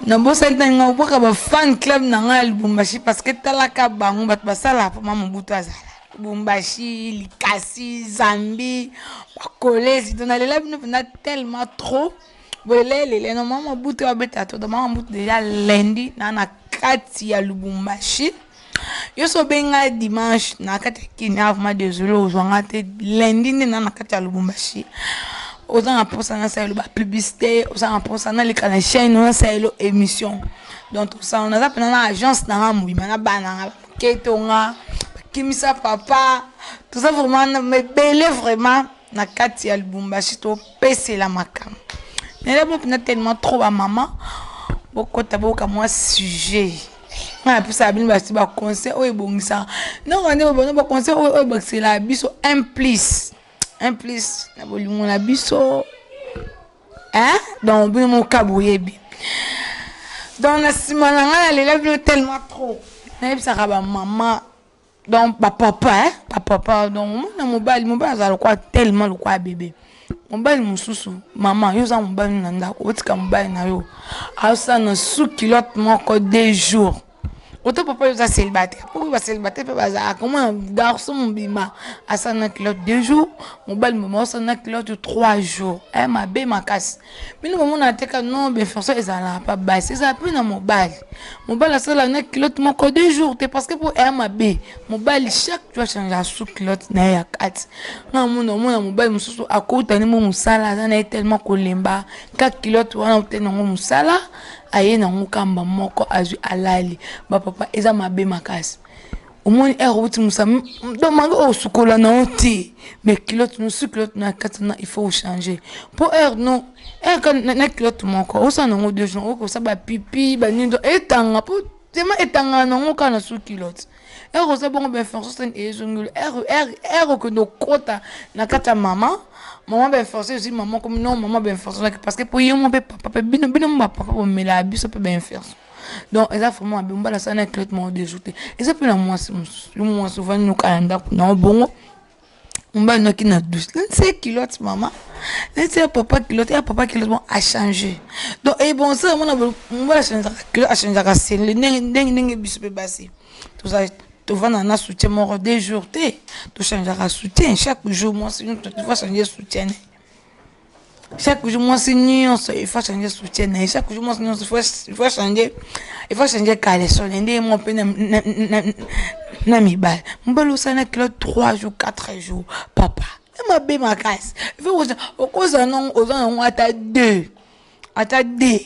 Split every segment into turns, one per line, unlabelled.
nabosaki ntango nga obwaka ba fan club na ngai ya lubumbashi parce que talaka bango bato basala mpo ma mobutu azala lubumbashi likasi zambi bakolezi to nalela bino mpenza tellement trop bolela elele no mama mobutu abeta to mama mobutu deja lendi na na kati ya lubumbashi yo so benga dimanche na kati ya kenya vraiment désolé ozwa nga te lundi nde na na kati ya lubumbashi oza na mposa nasalela ba publicité oza na mposa naleka na chaîne nasalela émission donc tosala naza mpena na agence na nga mobima na bana nga baketo nga bakimisa papa toza vraiment mebele vraiment na kati ya lubumbashi topesela makambo nalebo mpena tellement trop bamama bokota boyoka mwa sujet ngai napesaka bino basi baconseil oyo ebongisaka ndongo nde babona baconseil oyo oyo ebakisela biso un plus un plus na bolingo na biso hein donc bino moka boyebi donc na nsima na ngai nalela bino tellement trop nayebisaka bamama donc ba papa hein ba papa donc mwana mobali mobali azala lokola tellement lokola bebe mobali mosusu mama yo oza mobali na ndako otika mobali na yo aosa na sous culotte moko deux jours oto papa yo oza célibataire mpo ba célibataire mpe bazalaka komona garçon mobima asala na culotte deux jours mobali mobima osala na culotte trois jours e eh, mabe makasi bino bomonaka te ka non beforsa ezalaka pa basi ezalaka mpe na mobali mobali asalaka na kilote moko deux jours te parce que mpo eya mabe mobali chaque jour achangea sous kilote na ye ya kati nga amona omona mobali mosusu akouta nde mo mosala aza na ye tellement kolemba ka kilote wana ote nango mosala aye nango kamba moko azwi alali bapapa eza mabe makasi omoni heure eh, outi mosa do mange oyo osukola na yo te mais kilote mosusu kilote na kati na il faut ochange mpo heure eh, no eka eh, na kilote moko osala nango deux jours okosa bapipi banini do etanga mpo tema etangana nango kaka na su kilote heure oza bongo bainformation ezongeli heure okende okota na kati ya mama mama bainformation ezwi mama komi no mama bainformation parce que mpo ye mo mpe papa mpe bino bino mo bapapa bomelaa biso mpe bainformation donc eza vraiment mabe mobali asala na traitement ya dejour te eza mpe na mwasi mosusu yo mwasi ovandi noka ya ndako na obongo mobali noki na douce nse kilote mama nse ya papa kilote ya papa kilote bon achange donc ebonsa yango na mobali achangeaka kilote achangeaka sele ndenge ndenge ndenge biso mpe basi tozali tovanda na soutien moko deux jours te tochangeaka soutien chaque jour mwasi nyonso tova change soutien chaque jour mwasi nyonso il faut changer soutien na ye chaque jour mwasi nyonso il faut changer il faut changer caleçon na ndenge moko mpe na mibale mobali osala na kilo 3 jours 4 jours papa mabe makasi il faut okozala nango oza nango ata 2 ata 2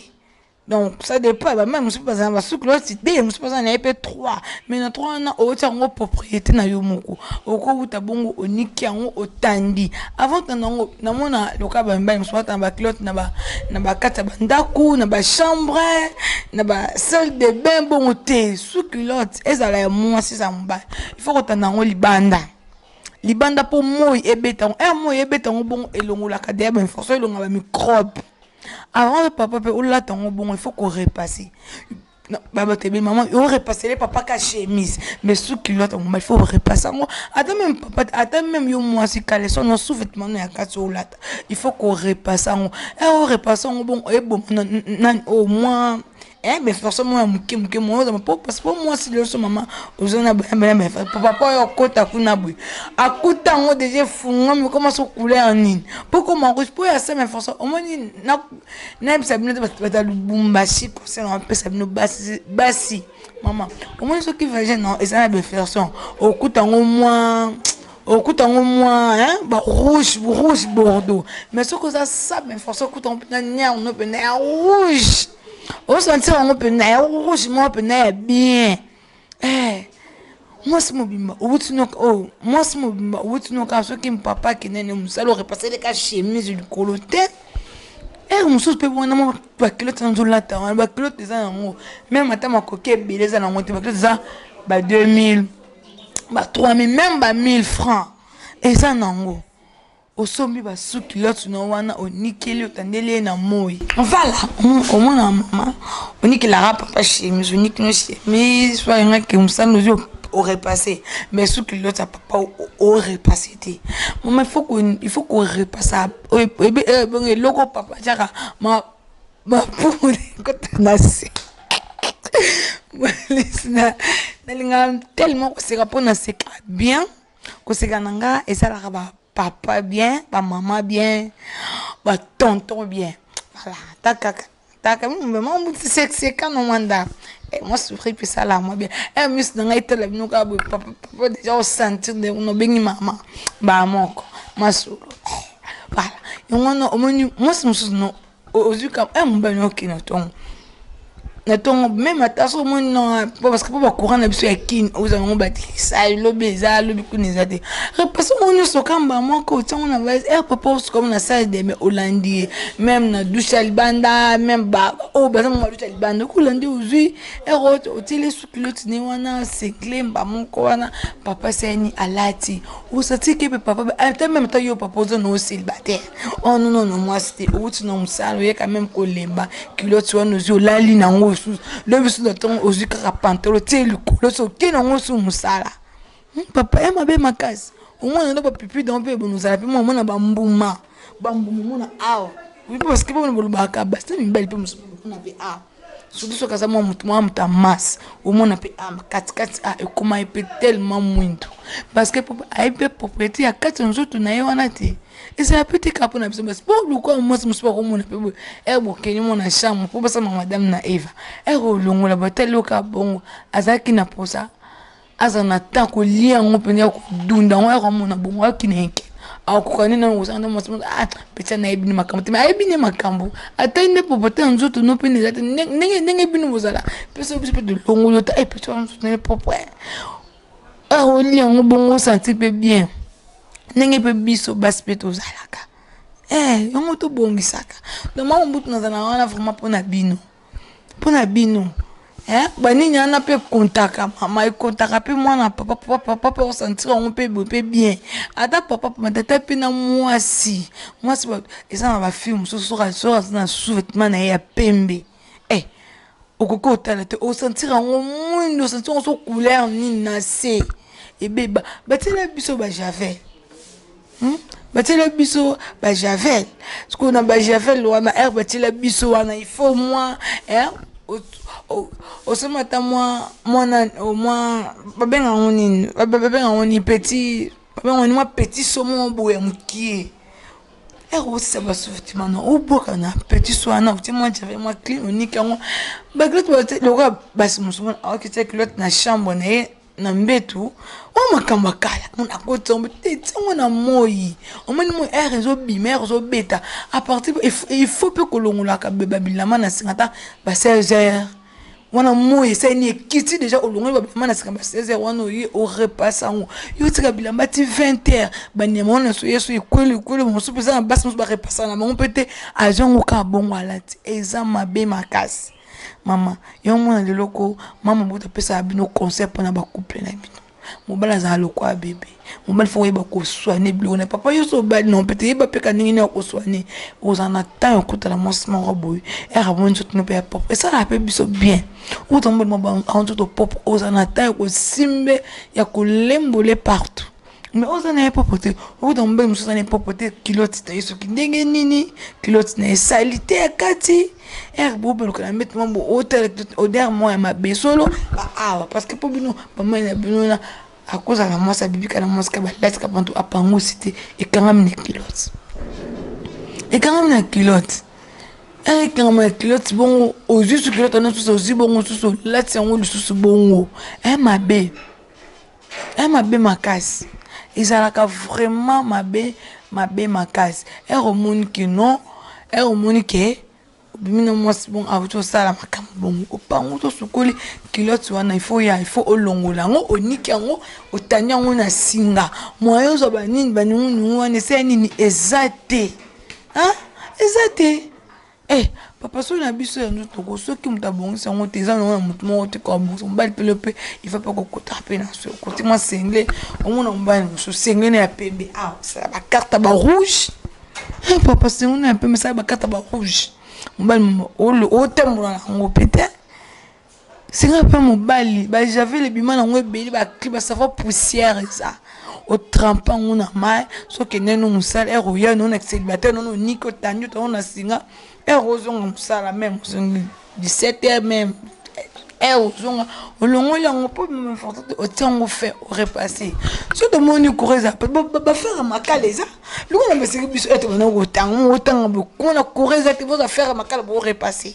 donc ça dépend ba mère mususu bazana ba suki loti de mususu bazana na pe 3 mais na 3 wana oti yango propriété na yo moko okowuta bongo oniki yango otandi avant tanda yango namona loka ba mibali mususu batana ba clotte na ba na ba kata ba ndaku na ba chambre na ba salle de bain bongo te suki loti ezala ya mwasi ezala mobali il faut kotanda yango libanda libanda mpo moi ebeta yango ere eh, moi ebeta yango bongo elongolaka deya bainformation elonga bamicrobe Avant yo papa pe olata ngo bongo il faut ko repasser. Baba te be maman yo repasser le papa ka chemise mais sous culotte ngoma il faut repasser ngo ata même papa ata même yo mwasi caleçon no sous vêtement no ya kati olata il faut ko repasser ngo. Eh o repasser ngo bongo e boma na na au moins Eh mais François mwana muke muke mwana oza po parce po mwasi lelo so mama oza na bana bana mais papa po yo kota kuna boye akuta ngo déjà funga mais comment so couleur nini po ko ma rouge po ya ça mais François au moins na na bisa bino bata Lubumbashi conseil na pesa bino basi basi mama au moins soki vagin non eza na beferson okuta ngo mwa okuta ngo mwa hein ba rouge rouge bordeaux mais soki oza ça mais François okuta ngo mpenza niar no mpenza ya rouge osanti yango mpena ya rouge moko mpena ya bien eh, mwasi mobimba owuti noka oyo oh, mwasi mobimba owuti noka soki mpapa akende ne mosala orepaseleka chemise likolo te ere eh, mosusu mpe wana mwa bakilote na nzolata wana bakilote eza yango meme ata makoki ebele eza nango te bakilote eza ba 2000 ba 3000 meme ba 1000 francs eza nango osombi ba sous culotte no wana onikeli otandeli ye na moi vala omona mama onikelaka papa chemise oniki no chemise oyangaki mosana ozwi orepasse mais sous culotte ya papa orepasse te mama il faut korepassa ebongo eh, eh, eh, eloko papa atyaka mapumu ekota na se nalingaka tellement koseka mpo naseka bien Koseka na nga esalaka ba papa bien, ba mama bien, ba tonton bien. Voilà, takaka. Taka mimi mbe mwa mbuti sekseka na mwa ndako. Eh, mwa sourire pe sala mwa bien. Eh, misu na ngai tala bino kaka boye papa papa déjà au sentir de no bengi mama. Ba moko. Masolo. Voilà. Yango wana omoni mwasi mosusu no ozwi ka eh, mobali oke na ntongo na ntongo meme ata so omoni na parce que mpo bacourant na biso ya kine ozala yango batikisa lobi eza lobi kuna eza te repase yango nyonso kamba moko otiango na valise er eh, papa osukamu na sale deme olandi ye meme na dushe ya libanda meme baoyo oh, baza mama dushe ya libanda oki olandi ozwi er eh, otieli suki lotine wana segle mba moko wana papa sani alati osatike mpe papa ata meme ata yo papa oza na oselibataire oh non non non mwasi te outi na mosala oye quand même kolemba kiloti wana ozwi olali na yango osusu lobi bisu na ntongo ozwi kaka pantalo tie likolo so oke na yango osusu mosala hmm, papa ya mabe makasi omona ndo bapipi dango mpe bonozala mpe mwa omona bambuma bambuma omona awa oyebi baske bamona bolobaka basi na mibali mpe mosusu mpe awa surtout soki aza mwa motu mwa motu ya masse omona mpe ah, katikati ah, ekoma ye mpe tellement mwindu parce que ayebi mpe propriété ya kati ya nzoto na ye wana te ezala mpe te kaka mpo na biso basi mpo luka mwasi mosusu bakomona mpe boye ere eh, bokende mona chambre mpo basama madame na eva ere eh, olongola batali oka bongo azalaki na posa aza na temps kolia yango mpenza ya kodunda yango ya komona bongo akineke akokoka nde nano kosala nde mwasi moko ah peti anayebi nde makambo te me ayebi nde makambo atali nde popote ya nzoto no mpe nde eza te ndenge ndenge bino bozala mpe soki biso mpe tolongolo ta e eh, peti wana nzoto nde propre akolia ah, yango bongo osanti mpe bien ndenge mpe biso basi mpe tozalaka eh yango tobongisaka donc mama mbutu nazala wana vraiment mpo na bino pona bino eh banini wana mpe ekontaka mama ekontaka mpe mwana papa papa papa mpe osantir yango mpe boye mpe bien ata papa matata mpe na mwasi mwasi eza na bafilme mosusu soki soki aza na sous-vêtement na ye ya pembe eh okoki otala te osantir yango mwindo osantir yango so couleur nini na se ebeba batiela biso bajavel Hmm? batiela biso bajavel sikoyo na bajavel wana r batiela biso wana ifo mwa eh, osoma ata mwa mwana mwa babenga yango nini babenga yango ni petit babenga yango ni mwa petit somo boye ya mokie r osisa basuti mana obwaka na petit so wana otie mwa javel mwa clean oniki yango bakilote lokola basi mosusu mona aokitya kilote na chambre na ye na mbetu oyo oh, makambo ya kala nakoti yango te ntango na moi omoni moi aire ezobima aire ezobeta apartir ifo mpe kolongolaka babilama na singa ata ba 16 heure wana moi esaini ekiti deja olongoli babilama na singa ba 16 heure wana oye orepasse yango yo otika bilamba ti 20 heure banyama wana nyonso yesu ekweli ekweli mosusu mpe eza na basi mosusu barepassaka na bango mpe te azwa yango kaka bongo alati eza mabe makasi Mama yo mwana lelo ko mama mobutu apesaka bino conseil mpona ba couple na bino mobali azala lokola bebe mobali fo oyeba koswane biloko na papa yo so obali na mpete yeba mpeka ndenge nini okoswane ozala na temps ya kotala mwasi moko boye ere amoni nzoto no mpe ya pop esalaka mpe biso bien uta mobali mwa bango nzoto pop ozala na temps ya kosimbe ya kolembole partout Mais oza na ye propre te okuta mobali mosusu aza na ye propre te kilote na ye soki ndenge nini kilote na ye salite ya kati ere bobalukana mbete mambo otala kilote odere mwa ya mabe solo baawa parce que mpo bino bamai na bino na akozala na mwasi abibika na mwasi ka balati ka pantu apangusi te ekangami na kilote ekangami na kilote ere ekangami na kilote bongo ozwi su kilote wana susu ozwi bongo susu olati yango lisusu bongo e mabe Eh mabe makasi ezalaka vraiment mabe mabe makasi ere omoni ke non ere omoni ke obimi na mwasi bongo awuti osala makambo bongo opangu tosukoli kilote wana ifo ya ifo olongola yango oniki yango otani yango na singa moye ozwa banini baninguningu wana esaya nini eza te eza te Eh papa soki na biso ya nzoto ko soki moto abongisi yango te eza nango na moto moko te kobongisa mobali pele mpe ifa mpe kokotaka mpe na so koti mwa sengle omona mobali mosusu sengle na ya pembe a osala bakarte ba rouge eh papa sengle na ya pembe sala bakarte ba rouge mobali otambola na yango mpe te Senga pe mobali ba javel ebima nango ebele ba cli ba savon poussière eza otrampe yango na mai sokende no mosala ere oya no na célibataire nono oniki otandi otango na singa ere ozonga mosala meme ozongi 17 heure meme ere ozonga olongoli yango mpo meme important te otia yango fin orepasse so tomoni kura eza mpe bafere makala eza longo na baseki biso ete bana kotango otanga bokona kura eza te boza fere makala borepasse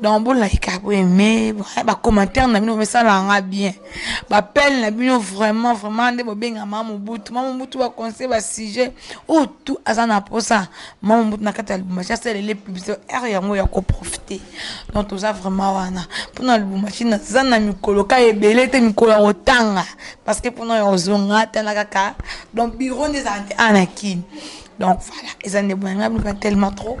donc bolaika boye me bacommentaire na bino bomesalaka nga bien bapele na bino vraiment vraiment nde bobenga ma mobutu ma mobutu baconseil basujet oyo tu aza na mposa ma mobutu na kati ya lubumbashi asalele publicité ere yango ya koprofite donc toza vraiment wana mpona lubumbashi naza na mikolo ka ebele te mikolo ya kotanga parce que mpona ya kozonga tala kaka donc biro nde ezala te ana kini donc voilà eza nde boyanga bino tellement trop